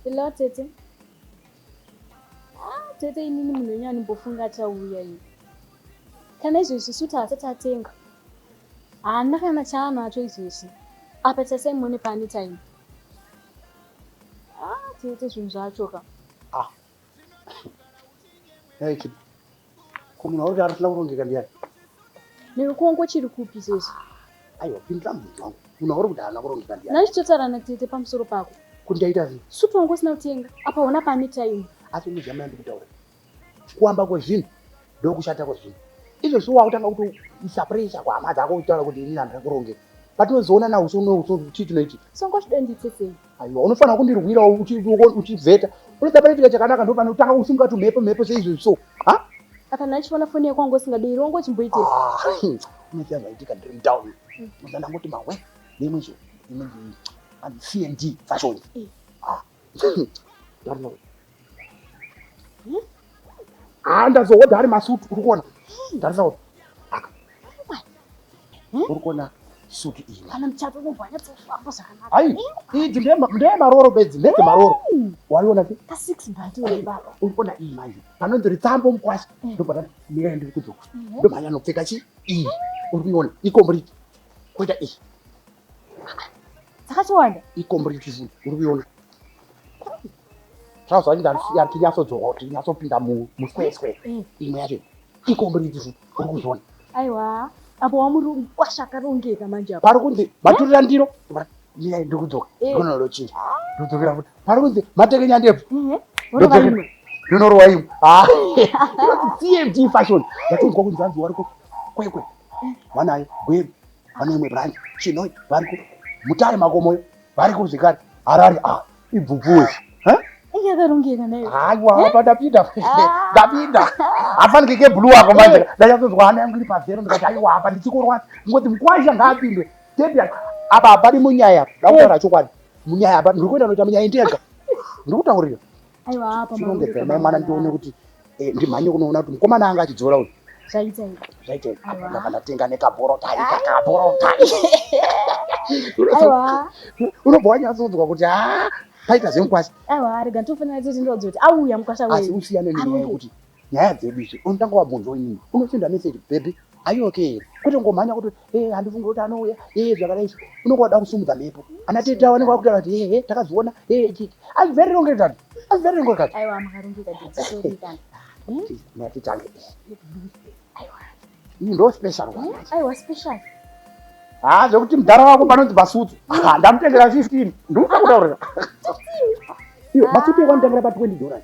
Hello tete. Ah, tete inini munhu wenyu animbofunga achauya iyi. Kana izvezvi suti haasati atenga. Haana kana chaanacho izvezvi. Apa tasaimuone paanetime. Ah, tete zvinhu zvacho ka. Ah, Hey, chip. Ko munhu wauri arasina kurongeka ndiyani? Newe kuongo chiri kupi izvezvi? Aiwa, pindira mubvunzo wangu. Munhu wauri kuti haana kurongeka ndiyani? Nhai chitotaura natete pamusoro pako. Kuti ndaita zii? Sutu wangu usina kutenga. Apa hona pane time. Asi unozama yandikutaura. Kuamba kwezvinhu ndokushata kwezvinhu. Izvezvi wakutanga kuti usapressure kwahama dzako uchitaura kuti ini handina kurongeka. Patinozoona na uso uno uso chii chinoitika? Songo chidenditse sei? aiwa unofanira kundirwirawo uchivheta unoda panoitika chakanaka ndo panotanga kusunga tumhepo mhepo seizvozvi so ha akana achiona foni yako wanga usingadei rongo uchimboitei unoziva zvaitika ndiri mutown unoziva ndangoti mawe nemwe zvo imwe cnd fashion eh. ah, haa ndazohodha ari masutu uri kuona ndarisa kuti aka uri kuona sutu iyi kana muchato unobva nyatsohamba zvakanaka hai idzi ndeye maroro bedzi ndedze maroro waiona ti ka six bati uri baba uri kuona iyi manje panonzi ritsambo mukwasha ndobva ndati mirai ndiri kudzoka ndomhanya nopfeka chi iyi uri kuiona ikombriti koita iyi dzakatowanda ikombo rechizungu uri kuiona trouser yacho ndari tinyatsodzoka kuti inyatsopinda musweswe eh. imwe yacho ikombo rechizungu uri kuzviona aiwa apo wamuri kwasha akarongeka manje pari kunzi maturira eh? ndiro mirai ndiri kudzoka eh. gono rochinja ndodzokera futi pari kunzi matekenya ndebvu ndonorowa imwe ah. cmd fashion yatonzwa kunzi anzi wariko kwekwe vanayo gweru pane imwe branch chinoi variko mutare makomoyo variko zvekare harari a ah, ibvubvuwe haiwa eh? pandapinda ah. ndapinda hafanike kebhuluu ako manje eh. ndanyatozwa hana yangu iri pazero ndikati aiwa apa ndichikorwati ngoti mukwaisha ngaapindwe tebi apa hapadi munyaya ndakutaura eh. chokwadi munyaya apa ndiri kuenda noita munyaya ndega ndiri kutaurira aiwa apa chirongedza mai mwana ndione kuti eh, ndimhanye kunoona kuti mukomana anga achidzora uyu zvaita zvaita ndaka ndatenga nekaborotai kakaborotai aiwa unobva wanyatsodzwa kuti ha paita zvemukwasha aiwa rega nditofanira tete ndodzoti auya mukwasha weasi usiyane nenyaya yekuti nyaya dzedu idzo unotanga wabvunza wenyini unosenda message baby are you okay here kwete ngomhanya kuti ee handifunge kuti anouya ee zvakadai so unenge wada kusumudza mhepo ana teta vanenge vakutaura kuti hehe takazviona ee chiti asi very wrong at that asi very wrong at that aiwa makarongeka dzitsorika natitange aiwa ini ndo special one aiwa special haa zvekuti mudhara wako panonzi basutsu ndamutengera 15 ndikutaurira iyo basutsu yekwamutengera pa 20 dollars